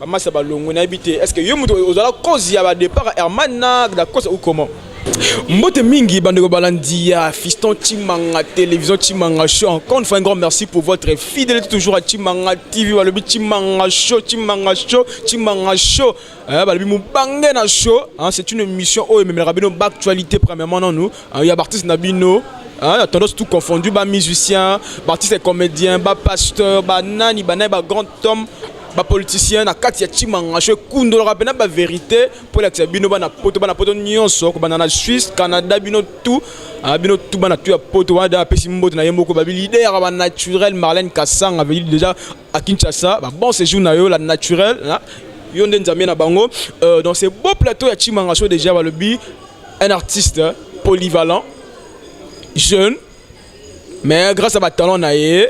Ba masa ba longwe na bité. Est-ce que yo muto ozala cause ya ba départ Herman na da cause ou comment? Mbote mingi bandeko balandia Fiston Chimanga télévision Chimanga show encore une fois un grand merci pour votre fidélité toujours à Chimanga TV balobi Chimanga show Chimanga show Chimanga show Eh, balobi mobange na show hein, c'est une émission oyo ememelaka bino baactualité premièrement nanu hein, ya baartiste na bino hein, ya tendance tout confondu bamusicien baartiste comédien bapasteur banani banani bagrand homme bapoliticien na kati ya chimanga show ekundolaka mpena baverité mpo elakisa bino bana poto bana poto nyonso kobanda na suisse canada bino tout ah, bino tout bana tout ya poto wana da apesi mbote na ye moko babi lider ya banaturel marlene kasanga déjà à Kinshasa ba bon séjour na yo la naturelle hein? yo nde nzambe na bango euh, dans ce beau plateau ya Chimanga Show déjà balobi un artiste hein, polyvalent jeune mais grâce à ba talent na ye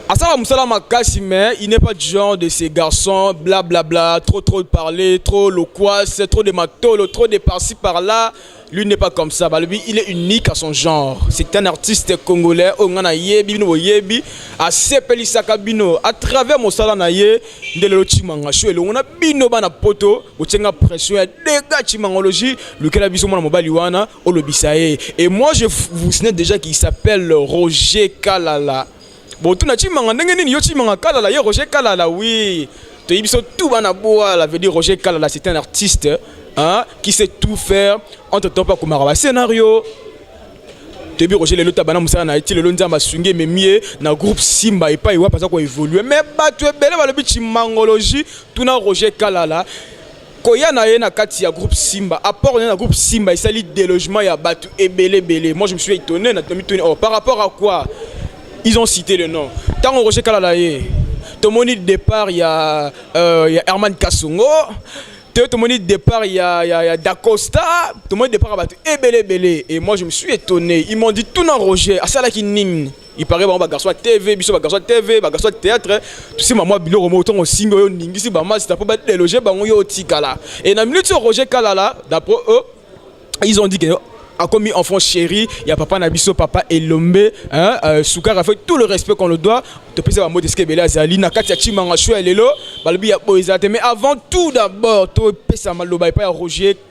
asala mosala makasi mais il n'est pas du genre de ces garçons blablabla bla, bla, trop trop de parler trop loquace trop de matolo trop de par-ci par-là bla, bla, bla. Lui n'est pas comme ça. Balubi, il est unique à son genre. C'est un artiste congolais. Oh, ngana yebi, bino yebi. A sepeli sakabino. À travers mon sala na ye, ndelelo chimanga show. Elongo na bino bana poto. Bochenga pression ya dega chimangologie. Lukela biso mwana mobali wana. Olobisa ye. Et moi, je vous signale déjà qu'il s'appelle Roger Kalala. botuna chimanga ndenge nini yo chimanga kalala ye roger kalala oui toyebi biso tout bana bwala veut dire roger kalala c'est un artiste hein, qui sait tout faire entre temps mpe akomaka bascenario toyebi roger lelo ta bana mosala na ye ti lelo nzambe asungi ememi ye na groupe simba epai wapi aza koevolue mais bato ebele balobi chimangologie tuna roger kalala koya na ye na kati ya groupe Simba apport na ye na groupe Simba esali délogement ya bato ebele ebele moi je me suis étonné na tomituni oh par rapport à quoi ils ont cité le nom ntango Roger Kala na ye tomoni départ ya euh, ya Herman Kasongo te tomoni départ ya, ya, ya Dacosta tomoni départ ya bato ebele ebele et moi je me suis étonné ils m'ont dit tuna Roger asalaki nini il paraît bango bagarçon ya tv biso bagarçon ya tv bagarçon ya théâtre tosimba mwa biloko moko ntongo osimbi oyo oningisi bamasita mpo badeloge bango yo otikala e na minute oyo roger kalala d'après eux ils ont dit que akomi enfant chéri ya papa na biso papa elombe hein, euh, sukara fait tout le respect qu'on le doit topesa bango deske ebele azali na kati ya chimanga shua lelo balobi ya boye ezala te mais avant tout d'abord topesa maloba epai ya roger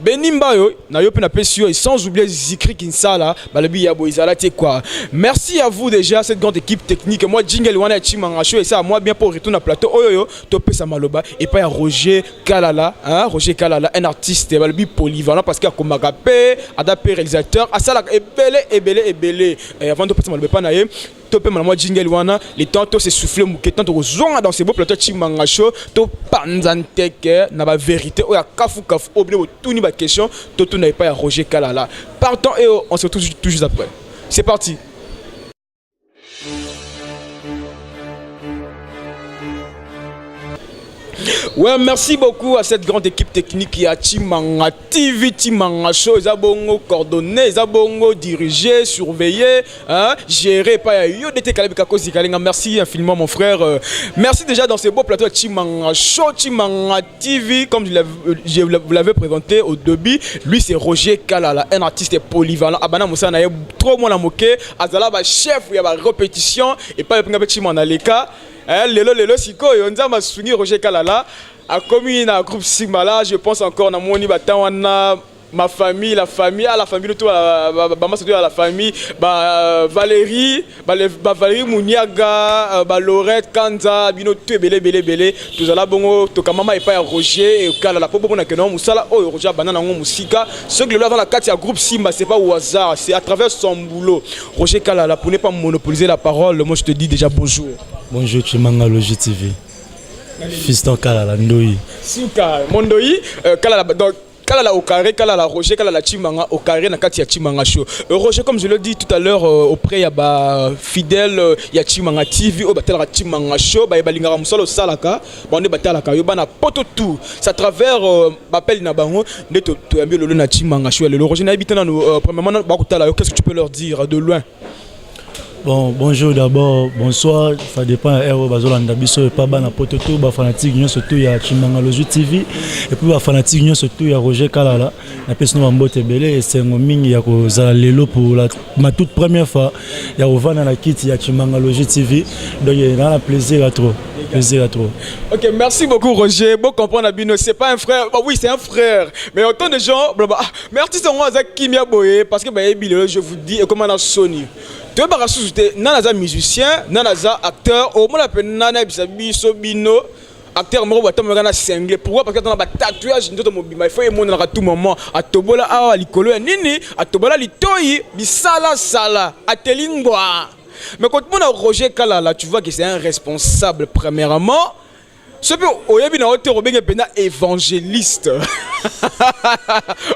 Beni Mbayo, na yo pe na pesi yo et sans oublier Zikri Kinsala, balobi ya boizala te quoi. Merci à vous déjà cette grande équipe technique. Moi jingle wana ya Chimanga show et ça moi bien pour retourner à plateau oyo yo to pesa maloba et pas ya Roger Kalala, hein Roger Kalala un artiste balobi polyvalent parce qu'il a komaka pe ada pe réalisateur, asala ebele ebele ebele. Et avant de pesa maloba pa na ye to pema na mwa jingle wana le temps to se souffler muke temps to kozonga dans ce beau plateau Chimanga Show to panza nteke na ba vérité oyo kafu kafu au bino tuni ba question to tuna epa ya Roger Kalala partant et on se retrouve tout juste après c'est parti Ouais, merci beaucoup à cette grande équipe technique qui a Chimanga TV Timanga Show eza bongo coordonner eza bongo diriger surveiller hein gérer pas ya yo dete kala bika kozi kalenga merci infiniment mon frère euh, merci déjà dans ce beau plateau Timanga Show Timanga TV comme je euh, vous l'avais présenté au début lui c'est Roger Kalala un artiste polyvalent abana musana ye trop mwana moke azala ba chef ya ba répétition et pas pinga pe Timanga leka eh, lelo lelo sikoyo nzambe asungi Roger Kalala akomi na groupe sigma là je pense encore namoni batemp wana ma famille la famille à ah, la famille tout bama surtout à la famille ba Valérie ba, ba Valérie Muniaga euh, ba Lorette Kanza bino tout ebele ebele ebele tozala bongo tokamama epai ya Roger ekalala mpo bomona ke nango mosala oyo oh, Roger abanda nango mosika soki lelo aza na kati ya groupe Simba c'est pas au hasard c'est à travers son boulot Roger Kalala pour ne pas monopoliser la parole moi je te dis déjà bonjour bonjour Chimanga Logi TV Fiston Kalala Ndoyi. Suka Mondoyi euh, Kalala donc Kalala au carré, Kalala Roger, Kalala Chimanga au carré na kati ya Chimanga show. Euh, Roger comme je l'ai dit tout à l'heure euh, auprès ya ba fidèles euh, ya Chimanga TV au batala Chimanga show ba balingaka musala osalaka bande batalaka yo bana poto tout ça travers euh, bapel na bango nde to to yambi lolo na Chimanga show lelo Roger na ebitana no euh, premièrement ba kutala yo qu'est-ce que tu peux leur dire de loin Bon, bonjour d'abord, bonsoir, ça dépend ya heure bazolanda biso epa bana poto to ba fanatique nyonso to ya Chimangalozu TV et puis ba fanatique nyonso to ya Roger Kalala na pesi no bambote ebele esengo mingi ya kozala lelo pour la ma toute première fois ya kovanda na kiti ya Chimangalozu TV donc na na plaisir à trop plaisir à trop. Ok, merci beaucoup Roger. Bon comprendre Abino, c'est pas un frère. Bah oui, c'est un frère. Mais autant de gens, blablabla. Mais artiste yango aza kimia boye parce que bayebi lelo je vous dis ekoma na soni toyebaka susu te nani aza musicien nani aza acteur omona mpe nani ayebisa biso bino acteur moko batambolaka na single pourquoi parce que atana batatouage nzoto mobimba ifo emonanaka tout moment atobola awa likolo ya nini atobola litoi bisalasala ateli ngwa mais kotomona roger kalala tu vois que c'est un responsable premièrement soki oyebi na yo te okobenge mpenza évangéliste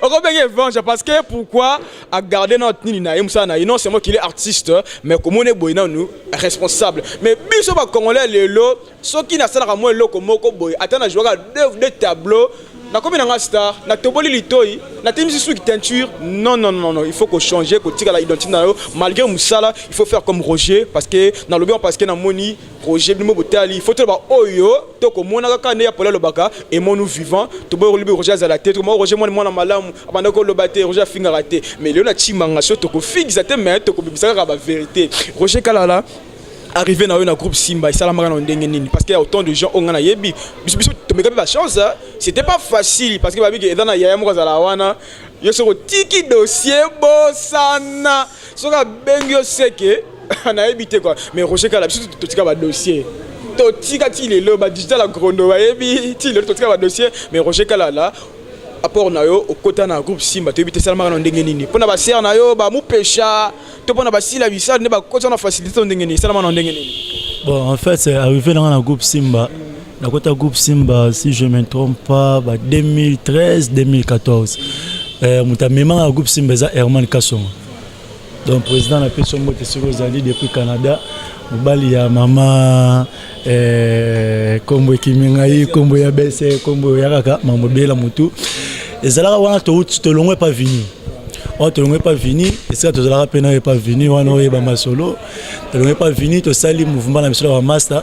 okobenge évangile parce que pourquoi agarde na nini na ye mosala na ye non seulement qu'il est artiste mais komona eboye nanu responsable mais biso bacongolais lelo soki nasalaka mwa eloko moko boye ata na jouaka deux, deux tableau nakomi na nga star natoboli litoi natemisi suki teinture non non non non il faut kochanger kotikala identité na yo malgré mosala il faut faire comme roger parce que nalobi yango parce que namoni projet bino botali faut toloba oyo to komona kaka nde ya pole alobaka emonu vivant toboyi kolobi roger azala te tokomaka roger mwana mwana malamu abanda koloba te roger afingaka te mais lelo na cimanga so tokofingisa te mais tokobimisa kaka baverité roger kalala arrivé na yo na groupe simba esalamaka na ndenge nini parce que autant de gens oyo ngai nayebi biso biso tomeka mpe bachance c'était pas facile parce que babiki eza na yaya moko azala wana yo soki otiki dossier bosana soki abengi yo seke nayebi te kua mais roger kala biso totika badossier totika ti lelo badigital agrondo bayebi ti lelo totika badossier mais roger kalala apport na yo okota na groupe simba toyebi te esalamaka na ndenge nini mpo na basere na yo bamupesha to mpo na basila bisali nde bakota na facilité to ndenge nini esalamaka na ndenge nini bon en fait arrivé nanga na groupe simba nakota groupe simba si je me trompe pas ba 2013 2014 euh, moto amemaka groupe simba eza herman kasonga donc président na peso mbote soki ozali depuis canada mobali ya mama eh, kombo ekimi ngai kombo ya bese kombo ya kaka mambo bela motu ezalaka wana touti tolongwe epa vini wana tolongwe epa vini esika tozalaka mpe nayo epa vini wana oyeba masolo tolongwe epa vini tosali mouvement na biso ya bamasta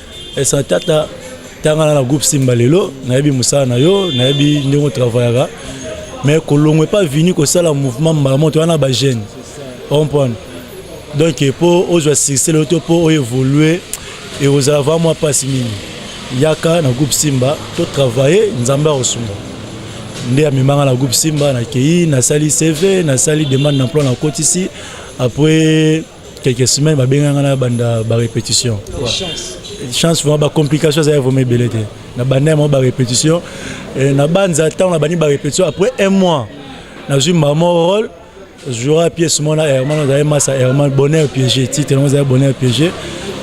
Esa tata tanga na groupe Simba lelo nayebi musala na yo nayebi ndenge travaillaka mais kolongwe pas vini kosala mouvement mbala moto wana ba jeune comprendre donc mpo ozwa succès lelo to mpo oévolue ekozala va mwa mpasi mingi yaka na groupe simba to travaille nzambe akosunga nde amemanga na groupe simba nakei nasali cv nasali demande d'emploi nakotisi après quelques semaines babenga nga na banda ba répétition chance vraiment ba complication ezali vraiment ebele te na banda yango ba répétition na banza ntango na bandi ba répétition après un mois nazwi mama role jouera pièce mona herman ozali masa herman bonheur piégé titre yango ozali bonheur piégé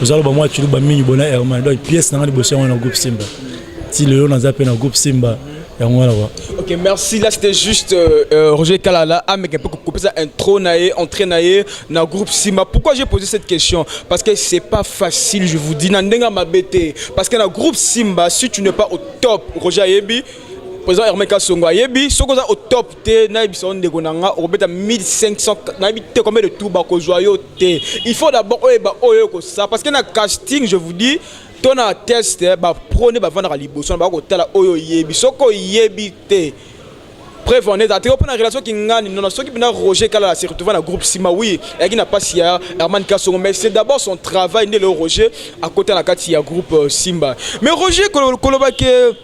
oza loba mwa ciluba mingi bonheur herman donc pièce na nga liboso yango na groupe simba ti lelo naza mpe na groupe simba yango wana kwa ok merci là c'était juste euh, euh roger kalala ameka mpe kokopesa intro na ye entrée na ye na groupe sima pourquoi j'ai posé cette question parce que c'est pas facile je vous dis na ndenge ya mabe te parce que na groupe simba si tu n'es pas au top roger ayebi président herme kasongo ayebi soki oza au top te nayebisa yo ndeko na nga okobeta 1500 nayebi te combien de tour bakozwa yo te il faut d'abord oyeba oyo okosala parce que na casting je vous dis to na test eh, ba pro nde bavandaka liboso na bakotala oyo oyebi soki oyebi te preuve en est atiko mpo na relation kingani nona soki mpena roger kalala se retrouva na groupe nsima wi eyaki na mpasi ya herman kasongo mais c'est d'abord son travail nde leo roger akota na kati ya groupe euh, simba mais roger koloba ke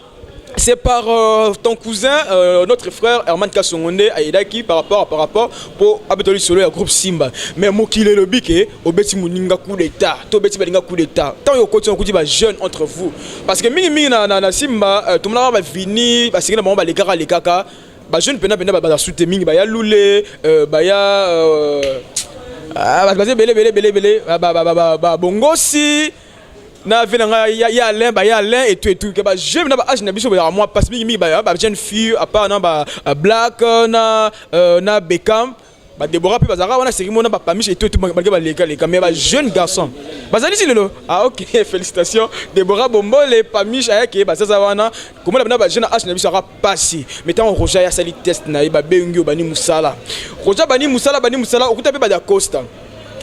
C'est par euh, ton cousin, euh, notre frère Herman Kassongonde à Edaki par rapport par rapport pour Abetoli Solo et groupe Simba. Mais Mokile le bique, obeti muninga coup d'état, to beti balinga coup d'état. Tant yo koti on kuti ba jeune entre vous. Parce que mingi mingi na na, na Simba, euh, tout le monde va venir, parce que na ba les kaka les kaka. Ba jeune pena pena ba ba soute mingi ba ya lule, euh, ba ya euh, ah, ba ba bele bele bele bele, ba ba ba ba ba bongosi. Ba, na vie na ngai ya ya Alain ba ya Alain et tout et tout que ba jeunes na ba âge na biso ba moi parce mingi mingi ba ba jeunes filles à part na ba euh, Black euh, na euh, na Beckham ba Deborah pe bazaka wana seki mona ba Pamiche et tout et tout malgré ba leka leka mais ba jeunes garçons bazali si lelo ah OK félicitations Deborah Bombole Pamiche ayake bazaza wana komona bana ba jeunes âge na biso aka pasi mais tant Roger ya sali test na ye ba bengi yo bani musala Roger bani musala bani musala okuta pe ba da Costa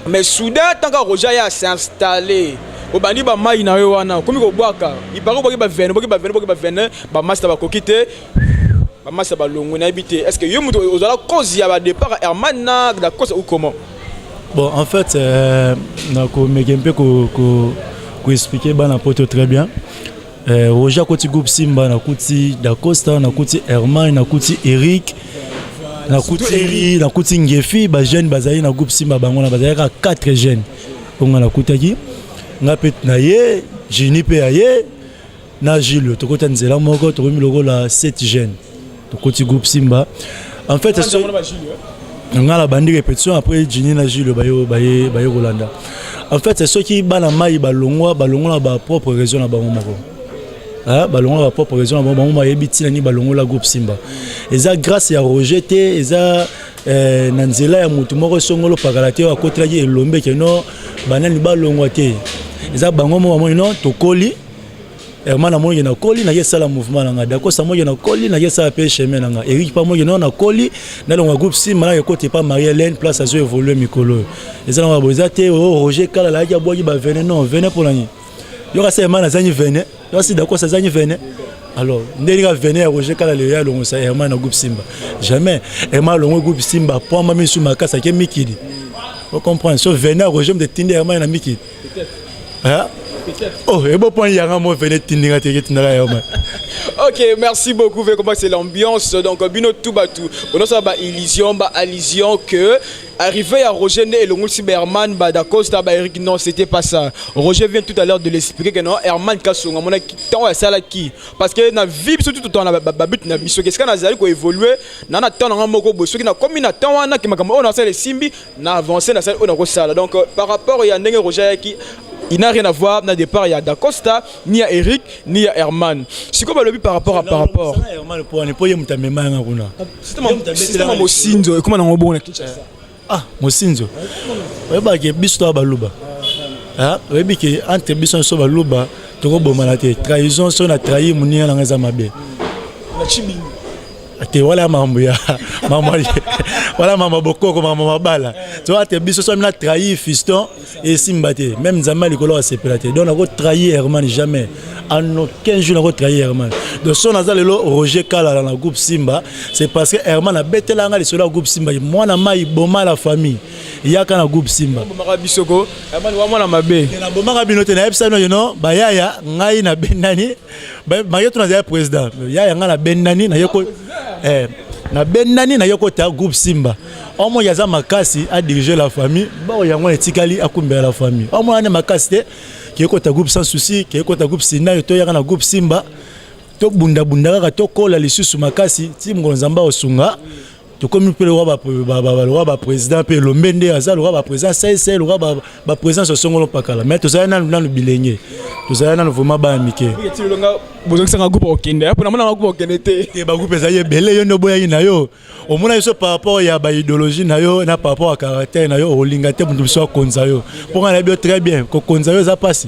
mais soudain tant kaka roger aya s'installer obandi bamai na yo wana okomi kobwaka ipare obwaki bavene obwaki bavene obwaki bavene bamasta bakoki te bamasta balongwe nayebi te est ce que yo moto ozala cause ya badépart herman na dacosa ou comment bon en fait euh, nakomeke mpe koexplike ko, ko bana poto très bien eh, roger akuti groupe simba nakuti dacosta nakuti hermine nakuti eric nakuti nakuti ngefi bajeune bazali na groupe simba bango na bazalaki kaka 4 jeune oyo ngai nakutaki ngai mpe na ye jini mpe ya ye na jules tokota nzela moko tokomi lokola 7 jeune tokoti groupe simba en fait ah, hein? nga na bandi répétition après jini na jules baye baye baye kolanda en fait soki bana mai balongwa balongola ba propre raison na bango moko hein? balongola ba propre raison na bango bango bayebi ntina nini balongola groupe simba eza grâce ya roger te eza eh, na nzela ya motu moko esongolo pakala te oyo akotelaki elombe keno banani balongwa te eza bango moko bamoni no tokoli Herman na moye na koli na yesala mouvement na nga Dakosa moye na koli na yesala pe chemin na nga Eric pa moye na koli na longa groupe Sima na ekoti pa Marie Hélène place azo évoluer mikolo ezala ba boza te oh Roger Kala la ya boyi ba venez non venez pour l'année yo ka Herman azanyi venez yo si Dakosa azanyi venez alors ndenge ka venez ya Roger Kala le ya longo sa Herman na groupe Simba jamais Herman longo groupe Simba poma misu makasa ke mikili vous comprenez so venez ya Roger mde tinde Herman na mikili Hein? Oh, et bon point, il y a un mot, venez, tindinga, tindinga, tindinga, ok merci beaucoup vu comment c'est l'ambiance donc bino tout batou onosala ba illusion ba allusion que arrivé à Roger Né et le Moussi Berman, Badacosta, Eric, non, c'était pas ça. Roger vient tout à l'heure de l'expliquer que non, Herman Kassonga, mon temps à ça là qui Parce que na vie, surtout tout le temps, la babute na biso, qu'est-ce qu'on a évolué, na na temps, na moko, bosso, qui na comme na temps, na qui m'a comme on a ça les simbi, na avance na sali oyo nakosala donc euh, par rapport ya ndenge roger ayaki il n'a rien à voir na départ ya dacosta ni ya eric ni ya herman sikoyo balobi par rapport à par rapport sistema mosinzo ekoma nango bongo na kinshasa ah mosinzo oyebaki biso toya baluba ah, oyebi ke entre biso nyonso baluba tokobomana te trahison soki na trahi moninga nanga eza mabe te wala mambo ya mama wala mama bokoko mama mabala to ate biso so na trahir fiston et simba te même nzambe likolo wa sepela te donc nako trahir herman jamais en aucun jour nako trahir herman donc son aza lelo roger kala na groupe simba c'est parce que herman abetela nga lisolo ya groupe simba mwana mai boma la famille yaka na groupe simba bomaka biso ko herman wa mwana mabe na bomaka bino te na epsa no you know bayaya ngai na benani maye to nazali président ya yanga na bendani na yeko eh na bendani na yeko ta groupe Simba omo ya za makasi a diriger la famille ba yango etikali akumbela la famille omo ane makasi te yeko ta groupe sans souci yeko ta groupe Sina to yanga na groupe Simba to bunda bunda kaka to kola lisusu makasi ti mongo nzamba osunga tokomi mpe lokola baprésident mpe elombe nde aza lokola baprésident sese lokola baprésident sosongolo mpakala mais tozali nanu nanu bilenge tozali nanu vraimen bana mike bozongisanga groupe okende mpo namona bagroupe okende te te bagroupe ezali ebele yo nde oboyaki na yo omona biso par rapport ya baidéologie na yo na par rapport ya caractère na yo olinga te moto mosusu akonza yo mpo ngai nayebi yo très bien kokonza yo eza mpasi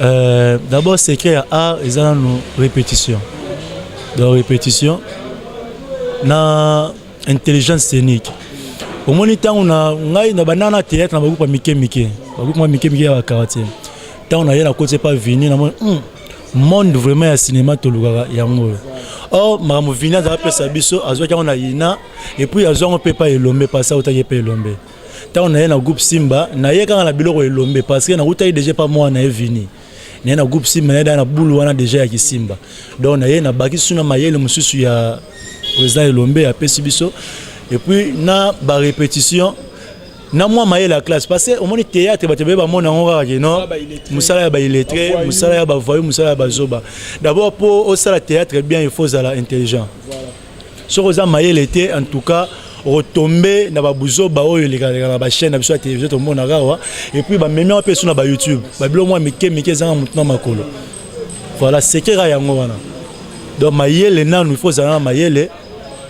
Euh, d'abord secret ya art eza nanu répétition donc répétition na intelligence scénique omoni ntango na ngai na bandana na théâtre na bagroupe ya mike mike bagroupe mwa mike mike ya bakaratier ntango naye nakoti epa vini namoni hmm, monde vraiment ya cinéma tolukaka yango oyo or makambo vini azalaka pesa biso azwaki yango na ina epuis azwa yango mpe epai elombe pasi autaki epai elombe ntango naye na groupe simba naye kaka na biloko elombe parce que nakutaki deja epa mwana naye vini naye na groupe simba naye daa na bulu wana deja ya kisimba donc naye nabakisi suna mayele mosusu ya président elombe apesi biso epuis na barépétition na mwa mayele ya classe parce que omoni théâtre bato ebele bamona yango kaka ke non mosala ya baillettre mosala ya bavoyu mosala ya bazoba d'abord mpo osala théâtre bien il faut ozala intelligent voilà. soki oza mayele te en tout cas okotombe na babuzoba oyo elekaleka na bachaine na biso ya télévision tomonaka awa epuis bamemi yango mpe esu na bayoutube babilo mwa mike mike ezanga motu na makolo voilà sekeka yango wana donc mayele nanu il faut ozala na mayele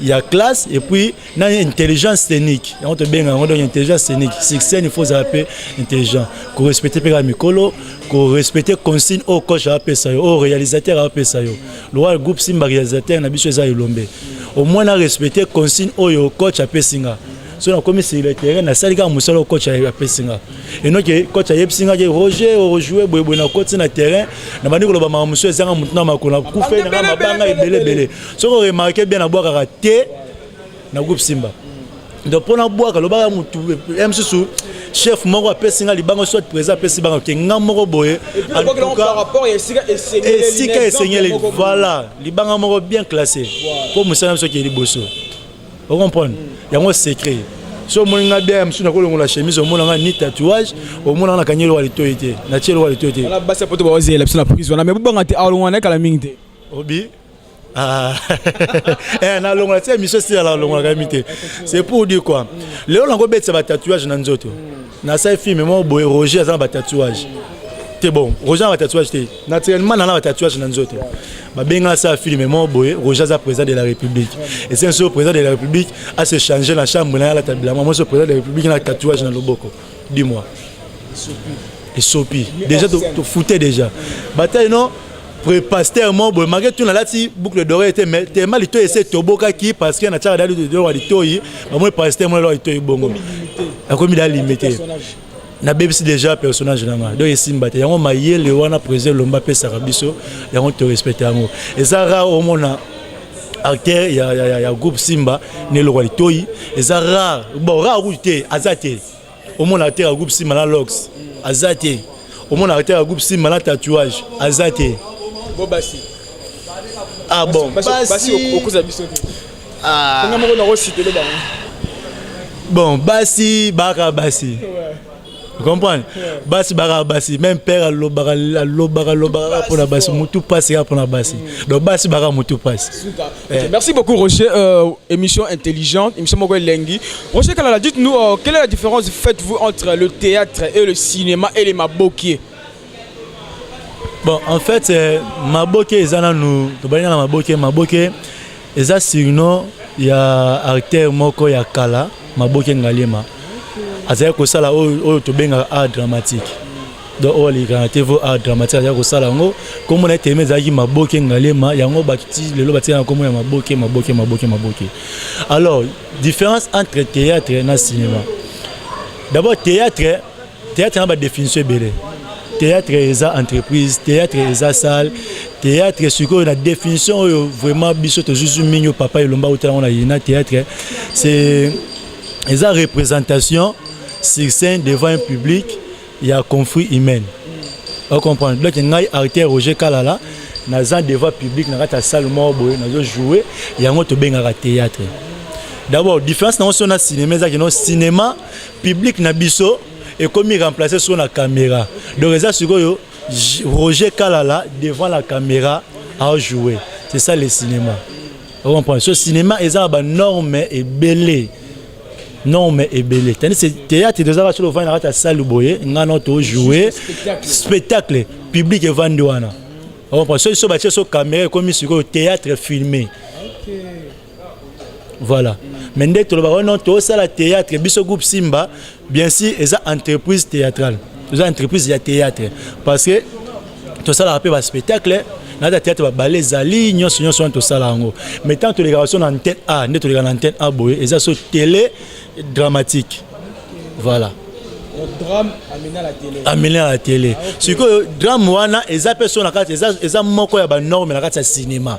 ya classe epuis na intelligence scénique yango tobenga yango donc intelligence scénique sur scène il faut ozala mpe intelligent korespecte mpe kaka mikolo korespecte consigne oyo coach apesa yo oyo réalisateur apesa yo lokola groupe simba réalisateur na biso eza elombe au moins na respecter consigne oyo coach apesi nga so nakomi sur le terrain nasali kaka mosala oyo coach apesi nga enoke coach ayebisi nga ke roger ojoue boyeboye nakoti na terrain na bandi koloba makambo mosusu ezanga motu na makolo na kufe nanga mabanga ebele ebele soki oremarke bien nabwakaka te na groupe simba donc mpo nabwaka lobaka motu ya mosusu chef moko apesi nga libanga soit président apesi banga ke nga moko boye esika esengeli voilà libanga moko bien classé mpo mosala biso kee liboso ocomprendre mm. yango secret so omoni nga bien ya mosusu nakolongola chemise omona nga ni tatouage omona nga nakangi eloka litoi te natie eloka litoi te basi ya poto baozela biso na prise wana me bobanga te alongwa na ye kala mingi te obi Ah, eh, na longola ti émission sila na longola kami te c'est pour dire quoi lelo nakobetisa batatouage na nzoto nasali filme moko boye roger aza na batatouage te bon roger na batatouage te naturellement nana batatouage na nzoto babenga asala filme moko boye roger aza président de la république esenso président de la république ase change na chambre na ye alata bilamba moso président de la république na tatouage na loboko dis moi esopi déjà to foutait déjà bataille non prépasteur mo boye make tuna alati boucle d'oreille te mais tema litoyi ese tobokaki parce que na tiaka da litoyi wa litoyi bamoni pasteur mona lwa litoyi bongo akomi da limite nabebisi déjà personnage na ngai donc esimba te yango mayele wana président lomba apesaka biso yango torespecte yango eza rare omona acteur ya, ya, ya, ya groupe simba na eloko ya litoi eza rare bon rare kutu te aza te omona acteur ya groupe simba na lox aza te omona acteur ya groupe simba na tatouage aza te ah bon okoza biso te ah. nga moko nakositele bango bon basi baka basi comprendre basi bakaka basi même père alobaka alobaka alobaka mpo na basi mutu mpasi kaka mpo na basi mm. donc basi baka mutu mpasi eh. merci beaucoup roger euh, émission intelligente émission moko elengi roger kalala dites nous euh, quelle est la différence faites-vous entre le théâtre et le cinéma et les mabokie Bon, en fait, euh, Maboke eza nanu tobali na Maboke, Maboke eza surnom ya acteur moko ya kala, Maboke Ngaliema. Azali kosala oyo oyo tobengaka art dramatique. Donc oyo alekaka te vo art dramatique azali kosala yango. Kombo na ye telema ezalaki Maboke Ngaliema, yango bakiti lelo batika na kombo ya Maboke, Maboke, Maboke, Maboke. Alors, différence entre théâtre na cinéma. D'abord théâtre Théâtre na ba définition ebele. Théâtre eza entreprise, théâtre eza salle, théâtre sikoyo na définition oyo vraiment biso tozuzu mingi oyo papa elomba otala na yina théâtre c'est eza représentation sur scène devant un public ya conflit humaine. Vous comprenez Donc ngai artère Roger Kalala naza devant public na kati ya salle moko boye nazo jouer yango tobengaka théâtre. D'abord différence na yango so na cinéma ezaki no cinéma Public na biso ekomi remplacer sur la caméra. Donc eza sikoyo Roger Kalala devant la caméra a jouer. C'est ça le cinéma. Vous comprenez? Ce cinéma eza ba norme et belé. norme ebele tandis que théâtre tozalaka solo ovandi na kati ya salle boye ngai no tojoue spectacle public evandi wana soki so batie so camera ekomi sikoyo théâtre filmé voilà mais nde tolobaka oh non tosala théâtre biso groupe simba bien sûr eza entreprise théâtrale eza entreprise ya théâtre parce que tosalaka mpe baspectacle nata théâtre babale ezali nyonso nyonso wana tosala yango mais ntango tolekaka so na antenne a nde toleka na antenne a boye eza so télé dramatique voilà amene na tele sikoyo drame wana eza mpe so na kati eza moko ya banorme na kati ya cinéma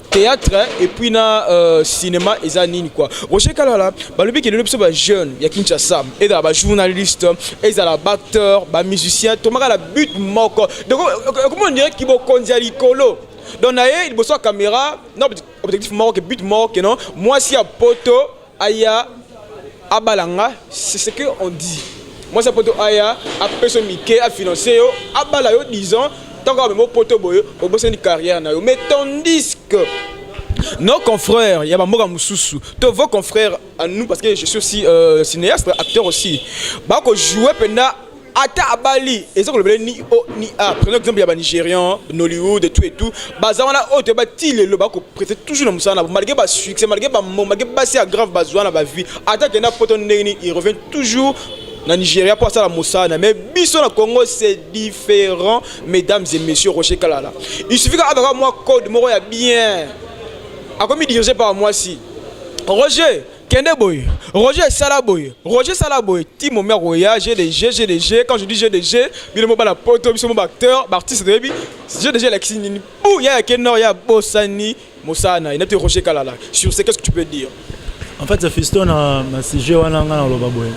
théâtre et puis na euh, cinéma eza nini quoi Roger Kalala balobi kelelo biso ba jeune ya Kinshasa ezala ba journaliste ezala ba acteur ba musicien tomaka la but moko donc comment on dirait kibokonzi ya likolo donc na ye liboso ya caméra na objectif moko ke but moko ke non mwasi ya poto Aya abala nga, c'est ce que on dit. Moi ça poto aya a peso mike a financer yo abala yo 10 ans tant que même poto boyo obosani carrière na yo mais tandis que nos confrères ya bamboka mosusu to vos confrères à nous parce que je suis aussi euh, cinéaste acteur aussi bako jouer mpenza ata abali eza kolobela ni o ni a prenons exemple ya banigérian nollywood tout et tout baza wana oyo toyeba ti lelo bakoprete toujours na mosala na bo malgré basuccès malgré bamo malgré basi ya grave bazwa na bavie ata kenda poto ndenge nini il revient toujours na nigeria mpo asala mosala na mais biso na congo c'est différent mesdames et messieurs rocher kalala il suffit kaka azaka mwa code moko ya bien akomi dirige par mwasi roger Kende boye, Roger sala boye, Roger sala boye, ti momi akoya, j'ai des jeux, j'ai des jeux, quand je dis j'ai des jeux, bino mo bana poto, biso mo ba acteurs, ba artistes de yebi, j'ai des jeux lakisi nini, pou ya ya kenor ya bosani mosana, inati Roger Kalala, sur ce qu'est-ce que tu peux dire? En fait, Fiston na na sujet wana nga na loba boye.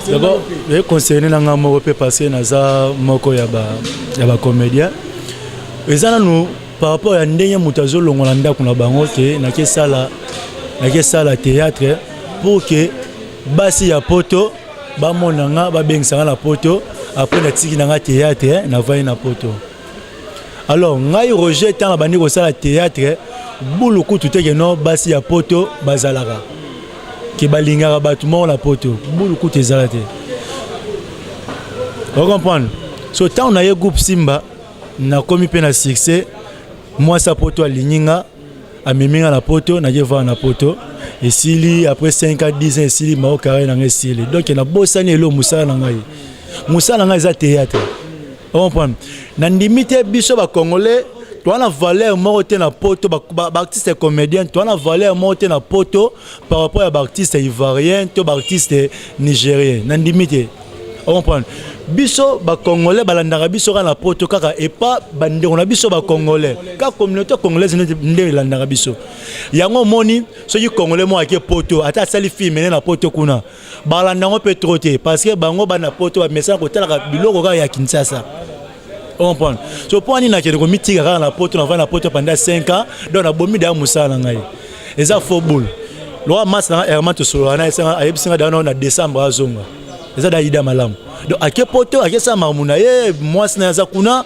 D'abord, je conseille na nga moko pe parce que naza moko ya ba ya ba comédiens. Ezana nous par rapport ya ndenge moto azolongwa na ndako na bango ke nakesala nakesala théâtre pour ke basi ya poto bamona nga babengisa nga na poto apres natiki na nga théâtre navandi na poto alors ngai roger ntango abandi kosala théâtre bulu kutu te ke no basi ya poto bazalaka ke balingaka bato moko na poto bulu kutu ezala te ocomprendre so ntango na ye groupe simba nakomi mpe na succès mwasi ya poto alingi nga amemi nga na poto naye vaa na poto esili après 5 a 10 ans esili mao carrière na ngai esili donc nabosani elo mosala na ngai mosala na ngai eza théâtre comprendre nandimi te biso bacongolais toza na valeur moko te na poto baartiste ba, ba comédien toza na valeur moko te na poto par rapport ya baartiste ivoirien to baartiste nigérien na ndimi te ocomprendre biso bacongolais balandaka biso kaka na poto kaka epa bandeko na biso bacongolais kaka communauté congolaise nde elandaka biso yango omoni soki congolais moko ake poto ata asali filme ne na poto kuna balanda yango mpe trop te parce que bango bana poto bamesana kotalaka biloko kaka ya kinsasa comprendre so mpo ani nakende komitika kaka na poto navanda na poto panda 5 ans donc nabomi daya mosala na ngai eza fo boule lokola masi nanga herman tosolola na esanga ayebisi ngai dayana na décembre azonga eza da ida malamu donc ake poto akesala makambo na ye mwasi na ye aza kuna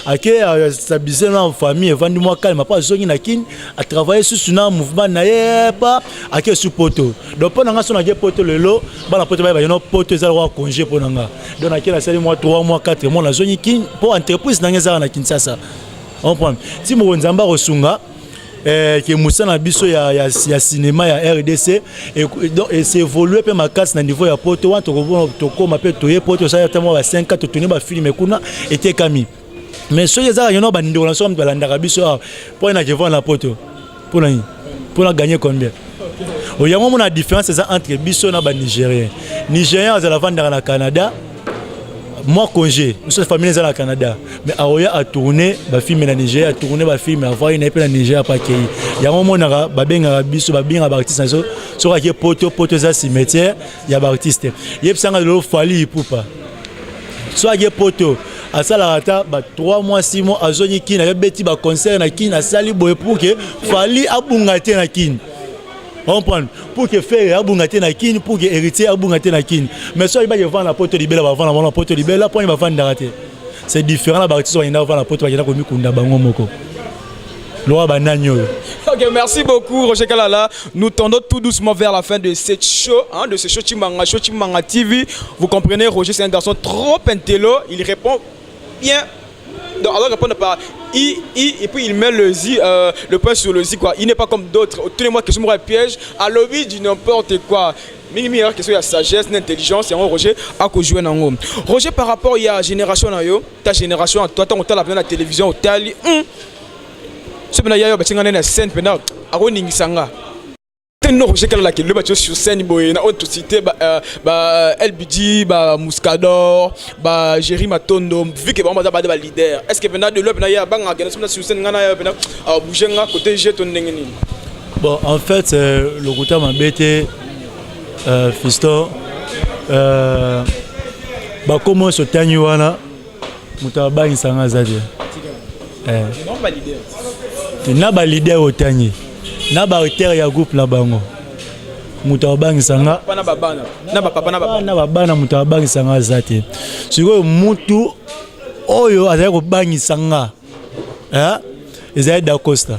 ake euh, stabilise na famille evandi mwa kalma mpo azongi na kini atravaille susu na mouvement na ye epa ake su poto donc mpo na nga so nake poto lelo bana poto baye bayeno poto ezala kwa congé mpo na nga donc nake nasali mwa 3 mwa 4 mwa nazongi kini mpo entreprise na nga ezalaka na kinshasa comprendre ti moko nzambe akosunga eh, ke mosala na biso ya, ya, ya cinéma ya rdc e, donc esevolue mpe makasi na niveau ya poto wana tokoma mpe toye poto osali ata mwa ba 5 ans totuni bafilme kuna etekami mais soki ezaka yono bandeko na so moto balandaka biso awa mpo na kevana na poto mpo na nini mpo na gagne combien oyango mona différence eza entre biso na banigérien nigérien azala vandaka na canada moi congé biso famille eza na canada mais aoya atourne bafilme na nigeria atourne bafilme avai na ye mpe na nigeria mpe akei yango omonaka babengaka biso babengaka baartiste na biso soki ake poto poto eza cimetière ya baartiste yebisanga lelo fali ipupa soki ake poto asalaka ata ba 3 mois 6 mois azongi kini abeti baconcert na kini asali boye pour ke fali abunga te na kini comprendre pour que ferre abunga te na kin pour que héritier abunga te na kin mais soki bake vanda poto libela bavanda bango na poto libela mpo ani bavandaka te c'est différent na baartiste bakenda kovanda poto bakenda komikunda bango moko loa banani oyo Ok, merci beaucoup Roger Kalala. Nous tendons tout doucement vers la fin de cette show, hein, de ce show Chimanga, show Chimanga TV. Vous comprenez, Roger c'est un garçon trop intello, il répond bien donc alors répondre par i i et puis il met le zi euh, le point sur le zi quoi il n'est pas comme d'autres tous les mois que je me piège à l'objet du n'importe quoi mingi mingi question ya sagesse na intelligence yango roger akojoue na yango roger par rapport ya génération na yo ta génération ya toi ntango otala mpena na télévision otali hmm. so mpena ya yo batinga nene ya scène mpena akoningisa nga no roger kalala kende batyo sur scène boye na oyo tosite ba lbg ba muscador ba géri matondo vu ke bango baza bada ba leader est ce que pena de loi pena ye abangaka kende sona sur scène ngai na ye pena abouge nga côté je to ndenge nini bon en fait euh, lokuta mabe te euh, fiston euh, bakoma oyo sotangi wana moto abangisa nga aza te eh. na balider otangi na baauteur ya groupe na bango moto abangisa nga na babana moto abangisa nga aza te sikoyo mutu oyo azali kobangisa nga eh, ezali dacosta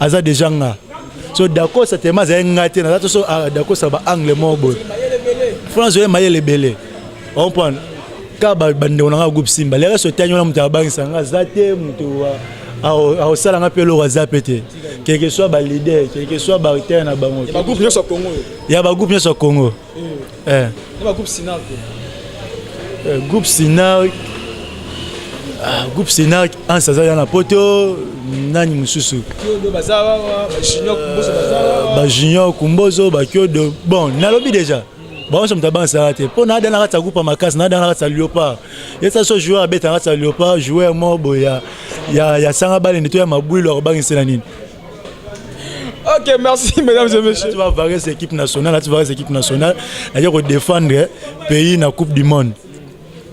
aza deja nga so dakosa tema azali nga te naza toso ah, dakosa ba angle moko boye france oye mayele ebele ompone ka bandeko na nga groupe simba lelo so etani wana moto abangisa nga aza te moto akosala nga mpe eloko aza mpe te quelque soit balider quelque soit baritare na bango ya bagroupe nyonso ya congo eh. na groupe sinar eh, groupe sinar ah, groupe sinar ansa aza ya na poto nani mosusu bajunior kumbozo bakiodo bon nalobi déjà banso moto abansaka te mpo naa dana kati ya groupe ya makasi naa dana kati ya leopard yesa so joueur abeta kati ya leopard joueur moko boye ya sanga balende to ya mabwilu akobangisela nini Ok, merci mesdames et messieurs. Tu vas varier cette équipe nationale, là, tu varier cette équipe nationale. D'ailleurs, pour défendre le pays dans la Coupe du Monde.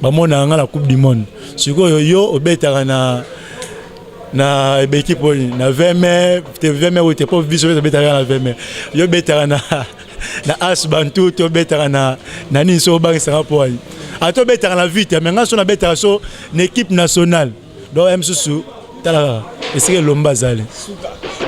Bah, moi, dans la Coupe du Monde. Si vous avez au Bétara, na na équipe na 20 mai, 20 mai ou t'es pas visuel sur Bétara na 20 mai. Yo Bétara na na As Bantu, tu Bétara na na Niso Bang Singapore. Ato Bétara na vite, mais ngas on a Bétara sur l'équipe nationale. donc ye mosusu tala kaka esika elomba azali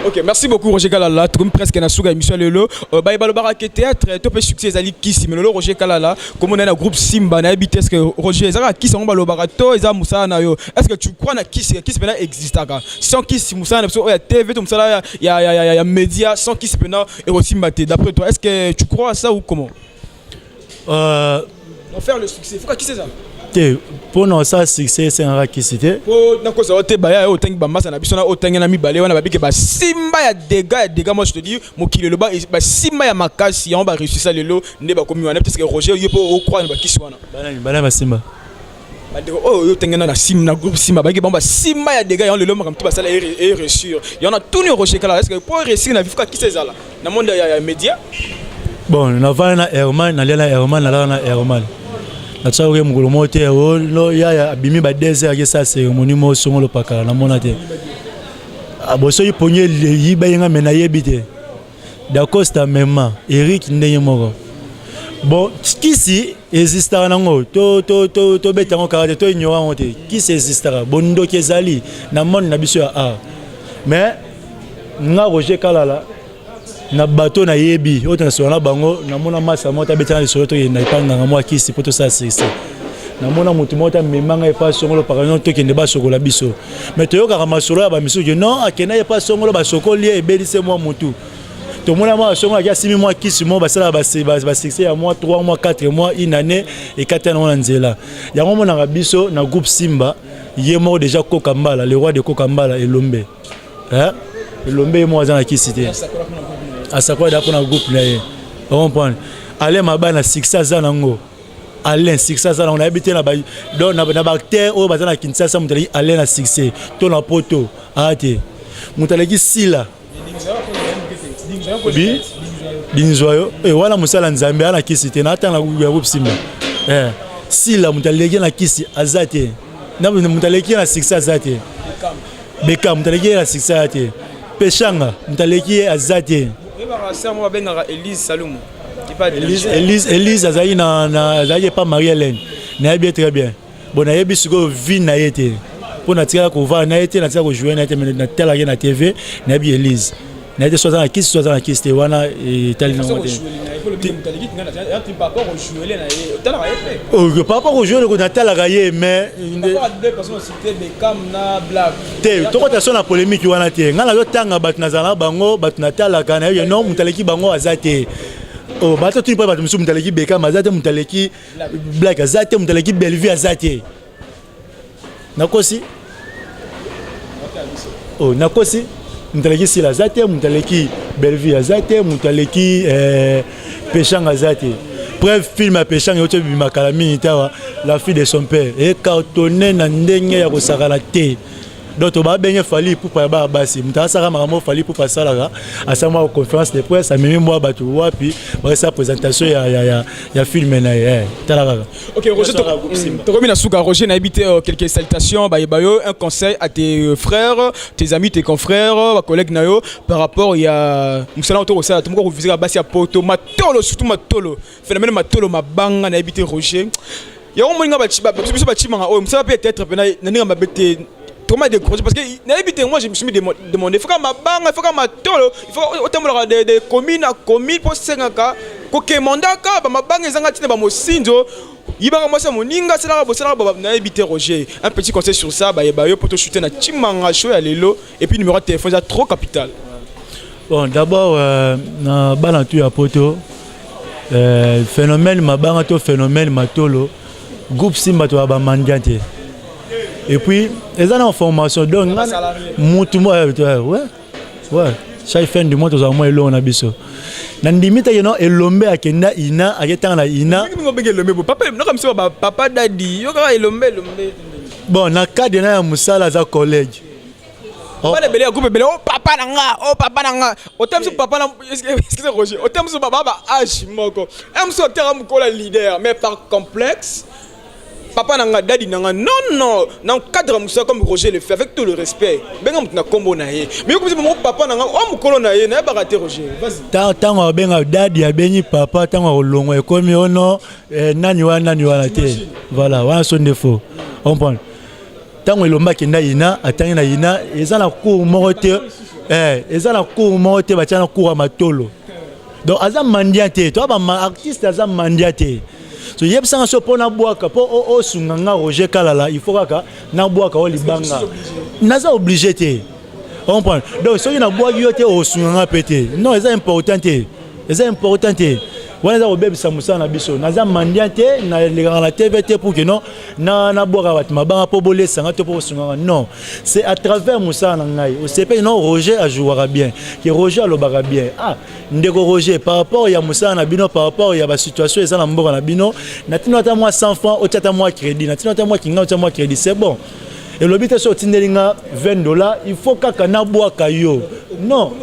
ok merci beaucoup roger kalala tokomi presque na suka émission lelo euh, baye balobaka ke théâtre to mpe succès ezali kisi me lelo roger kalala komona na groupe simba nayebi te eske roger eza kaka kisi yango balobaka to eza mosala na yo est-ce que tu crois na kisi ya kisi mpena existaka sans kisi mosala na biso oyo ya tv to mosala ya, ya, ya, ya, ya média sans kisi mpena ekosimba te d'après toi est-ce que tu crois ça ou comment Euh, pour faire le succès, il faut qui c'est ça te mpo na osala succès esengaka kisi te mpo nakozwa yo te baya yo otangi bambasa na biso na otangi na mibale wana babike basimba ya dega ya dega moi je te dis mokili eloba basimba ya makasi yango bareusisa lelo nde bakomi wana parce que roger yo mpo okroire na bakisi wana banani banani basimba bandeko oyo oh, oyo tengena na sim na groupe simba bayike bango basimba ya dega yango lelo makambo ti basala eresure yango na tuni okoshekala eske mpo eresire na vifuka kisa ezala na monde ya média bon navanda na herman nalia na herman nalala na herman natyaki oke mokolo moko te oh, yaya abimi ba deux heures akesa cérémonie moko songo lopakala namona te abosoki ah, pongi eyiba ye nga me nayebi te Dacosta mema Eric ndenge moko bon kisi ezistaka nango tobeta yango kaka te to ignora yango te kisi ezistaka bondoki ezali na monde na biso ya art mais nga roger kalala na bato nayebi oyo tonasola na bango namona masa moko tabetana lisolo tokenda epai nganga mwa kisi mpo tosala sese namona moto moko tamema ngai epai songolo pakano tokende basokola biso mais toyokaka masolo ya bamisusu ke non akendaki epa songolo basokoli ye ebelise mwa motu tomona mwa basongo aki asimi mwa kisi moko basalaka basuccès ya mwa 3 mwa 4 mwa une année ekati yango na nzela yango omonaka biso na groupe simba ye moko déjà koka mbala le roi de koka mbala elombe elombe ye moko aza na kisi te asakola da mpo na groupe na ye ocomprendre ale maba na succès aza nango Alain succès aza nango nayebi te na baacteur oyo baza na Kinshasa moto aleki Alain na succès to na poto aa te moto aleki sila bi binzwa yo e wana mosala nzambe ana kisi te natanga ya kopsimba e eh, sila moto aleki na kisi aza te moto aleki na succès aza te beka moto aleki ye na succès aza te peshanga moto aleki ye aza te oyebaka sere moko babengaka elise salumu Elise azali na azali epa Marie Hélène nayebi ye très bien bon nayebi sikoyo vie na ye te mpo natikala kovanda na ye te natikala kojoue na ye te me natalaka ye na tv nayebi Elise na ye te so aza na kisi so aza na kisi te wana etali nango te par rapport au jeu natalaka ye mais te tokota so na polemiki wana te ngai nazotanga bato nazala na bango bato natalaka na yo no moto aleki bango aza te oh, bato tuni mpo bato mosusu moto aleki bekama aza te moto aleki blak aza te moto aleki bellevue aza te nakosi oh, nakosi moto aleki sila aza te moto aleki bellevue aza te moto aleki eh, peshanga aza te preuve film ya peshanga euti ebima kala mingi tawa la fille de son père ecartonne na ndenge ya kosakana te donc toba benge fali ipupa ya bana basi moto asaka makambo fali ipupa asalaka asala mwa conférence de presse amemi mwa bato wapi bakosala présentation ya, ya, ya, ya filme na ye eh, tala kaka Ok, Roger, tokomi na suka. Roger, na habité euh, quelques salutations. Bah, bah, un conseil à tes euh, frères, tes amis, tes confrères, euh, bah, collègues nayo par rapport il y a musala auto ça tout monde visera basi à poto matolo surtout matolo phénomène matolo mabanga na habité Roger. Ya omo inga ba chiba, biso ba chimanga oyo musala peut-être pena na ninga mabete Comment décourager Parce que n'habite moi je me suis demandé, il faut ma banga, il faut ma tolo, il faut autant de, de communes à communes pour sengaka, ko kemandaka, ba ma banga ezanga tina ba mosinzo, yibaka mwasi ya moninga asalaka bosalaka baba nayebi te roger un petit conseil sur ça bayeba yo mpo toshute na timanga show ya lelo et puis numéro ya téléphone eza trop capital bon d'abord euh, na bana tu ya poto euh, phénomène mabanga to phénomène matolo groupe simba toya ba mandian te et puis eza na formation donc mutu mo eh, eh, ouais ouais chaque fin du mois tozala mwa elongo na biso na ndimi te keno elombe akenda ina aketanga na ina papa dadi yo kaka elombe elombe bon na cadre na ya mosala aza collège Oh. bana ebele ya groupe ebele o oh, papa na nga o oh, papa na nga ote mosusu papa na excuse roger ote mosusu baba ba age moko e mosusu oteka mokola leader mais par complexe papa na nga dadi na nga non non na cadre mosala comme roger le fait avec tout le respect benga moto na nkombo na ye mais yokomisi bango papa na nga o mokolo na ye nayebaka te roger ntango abenga dadi abengi papa ntango akolongwa ekomi ono eh, nani wana nani wana te voilà wana so nde faux comprendre Tango elomba kenda yina atangi na yina eza na cour moko te eh eza na cour moko te batia na cour ya matolo donc aza mandia te to ba artiste aza mandia te so yebisa nga so mpo nabwaka mpo osunga nga roger kalala il faut kaka nabwaka o libanga naza oblige te comprendre donc soki nabwaki yo te osunga nga mpe te non eza important te eza important te wana eza kobebisa mosala na biso naza mandia te nalekaka na tv te pour que non nabwaka bato mabanga mpo bolesanga to mpo bosungaka non c'est à travers mosala na ngai osepeli non roger ajouaka bien ke roger alobaka bien ah ndeko roger par rapport ya mosala na bino par rapport ya basituation eza na mboka na bino na ntina ata mwa 100 franc otya ata mwa crédit na ntina ata mwa kinga otya mwa crédit c'est bon elobi te soki otindeli nga 20 dollars il faut kaka nabwaka yo non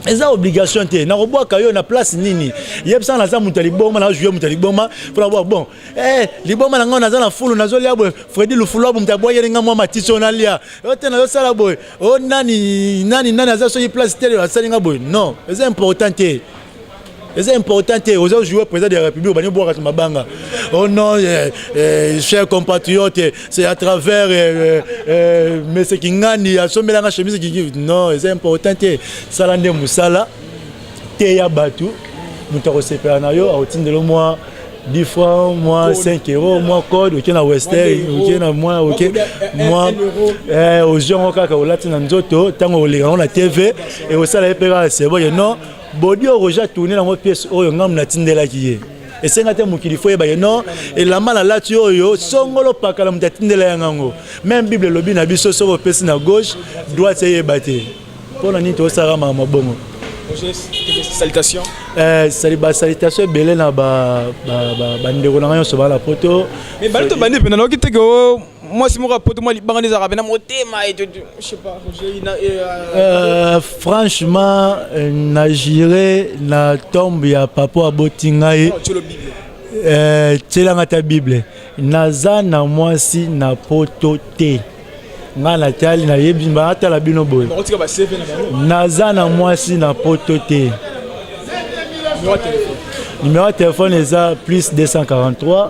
eza obligation te nakobwaka yo na place nini yebisa naza moto ya liboma nazojuye moto ya liboma mpo nabwa bon eh, liboma na ngai naza na fulu nazolia boye fredi lufulu abu moto abwayeli ngai mwa matisi oyo nalia yo te nazosala boye o oh, nani nani nani aza soki place te asali ngai boye non eza important te eza important te oza jouer président de la république obandi obwaka to mabanga oh non euh, euh, cher compatriote c'est à travers euh, euh, monsieur kingani asombelanga chemise kiki non eza important te sala nde mosala teya bato moto akosepela na yo akotindelo mwa 10 francs, moi 5 euros, moi code, ok na Western, ok na moi, ok moi eh aux gens au kaka au latin nzoto, tango au lira on a TV et au sala epera c'est bon non bodi oyo roger atourne nango pièce oyo ngambo natindelaki ye esenga te mokili fo yeba ye non elamba nalati oyo songolo pakala moto atindela ya ngango meme bible elobi na biso soki opesi na gauche droite eyeba te mpo na nini tosalaka makambo bongo salutation eh, sali ba salutation ebele na ba ba ba, ba ndeko na ngai nyonso bala poto mais bali to bandi pena noki te ko mwasi moko ya poto mwa libanga nde ezalaka mpe na motema euh, franchement euh, na jure na tombe ya papa oyo aboti ngai euh, tyelanga ata bible naza na mwasi na poto te ngai natali nayebi atala bino boye naza na mwasi na poto te numero ya telefone eza plus 243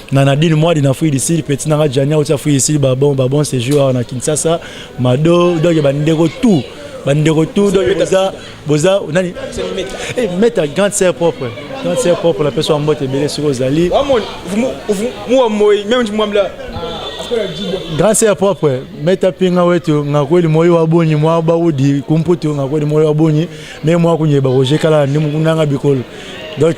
na Nadine Mwadi na Free Sud petit nanga Jania otia Free Sud ba bon ba bon séjour awa na Kinshasa Mado donc ba ndeko tout ba ndeko tout donc boza boza nani eh meta grande sœur propre grande sœur propre la personne mbote belé sur ozali moi moi même moi là grande sœur propre meta pinga wetu ngakweli moyo wa boni mwa baudi kumputu ngakweli moyo wa boni mais mwa kunyeba kojekala ni mukundanga bikolo donc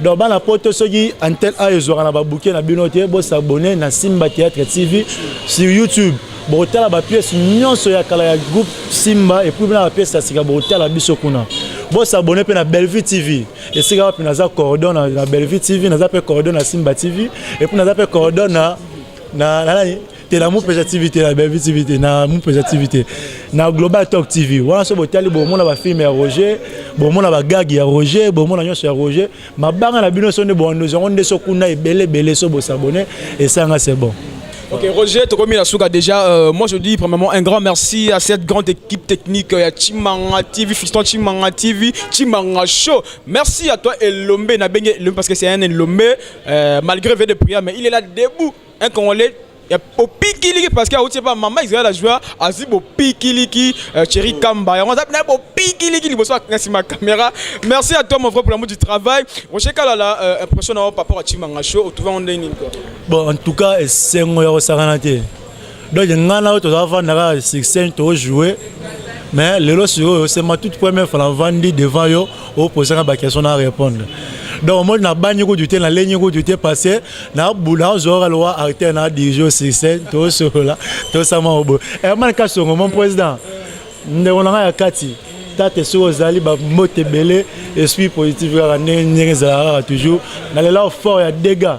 donc bana poto soki antel a ezwaka na babuke na bino te bosabone na simba théâtre tv sur youtube bokotala bapiese nyonso ya kala ya groupe simba epuis bina bapiese ya sika bokotala biso kuna bosabone mpe na bellevue tv esika wapi naza cordon na, na bellevue tv naza mpe cordon na simba tv epuis naza mpe cordon na, na, na nani te na mupeza tv te na bellevue tv te na mupeza tv te na global talk tv wana so botali bomona bafilme ya roger bomona bagage ya roger bomona nyonso ya roger mabanga na bino so nde boandozi yango nde so kuna ebele ebele so bosabone esanga c'est bon Ok, Roger Tokomi Nasuka, déjà, euh, moi je dis premièrement un grand merci à cette grande équipe technique, euh, à Chimanga TV, Fiston Chimanga TV, Chimanga Show. Merci à toi, Elombe Nabenge, parce que c'est un Elombe, euh, malgré V de prière, mais il est là debout un congolais ya bopikiliki parce que auti epa mama israel ajua azwi bopikiliki euh, cheri kamba yango aza na bopikiliki liboso na nsima ya caméra merci à toi mon frère pour l'amour du travail roger kalala euh, impression na yo par rapport ya chimanga show otrouve yango ndenge nini bon en tout cas esengo ya kosakana te donc nga na yo tozala vanda kaka succès tojoue mais lelo sikoyo c'est ma toute première fois navandi devant yo opose nga baquestion na répondre donc omoni nabangi kutu te nalengi kutu te parce que nazwaka lowa acteur na dirige succès tosolola tosama oboye herman kasongo mon président ndeko na ngai ya kati tate soki ozali bambote ebele esprit positif kaka ndenge ndenge ezalaka kaka toujours nalela fort ya dégâts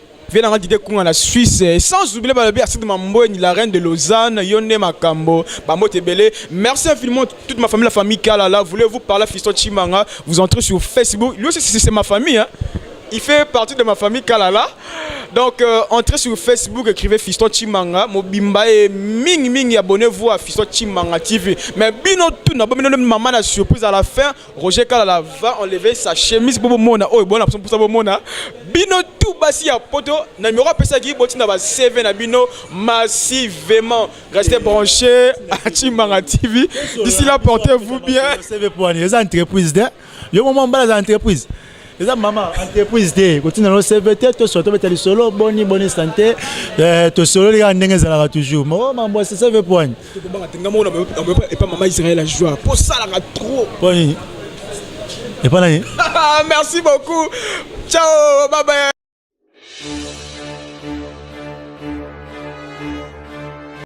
vie nanga dide kunga na suisse eh, sans oublier balobi aside mambweni la reine de lausanne yo nde makambo bambote ebele merci infiniment toute ma famille la famille kalala voulez-vous parler fiston chimanga vous entrez sur facebook lui aussi c'est ma famille hein? il fait partie de ma famille kalala donc euh, entrez sur facebook écrivez fiston chimanga mobimba et mingi mingi abonnez-vous à fiston chimanga tv mais bino tout na bomino mama na surprise à la fin Roger Kalala va enlever sa chemise pour mona oyo bona pour ça mona bino tout basi ya poto na numéro pesa ki botina ba CV na bino massivement restez branchés à Chimanga TV d'ici là portez-vous bien CV pour année les entreprises de yo moment bala entreprise eza mama entreprise te kotinda no cv te tosolo tobeta lisolo boni boni sante eh, tosololi kaka ndenge ezalaka toujours mo mambo ya cv poani epa mama israel ajua mpo osalaka trop poani epa nani merci beaucoup ciao babaya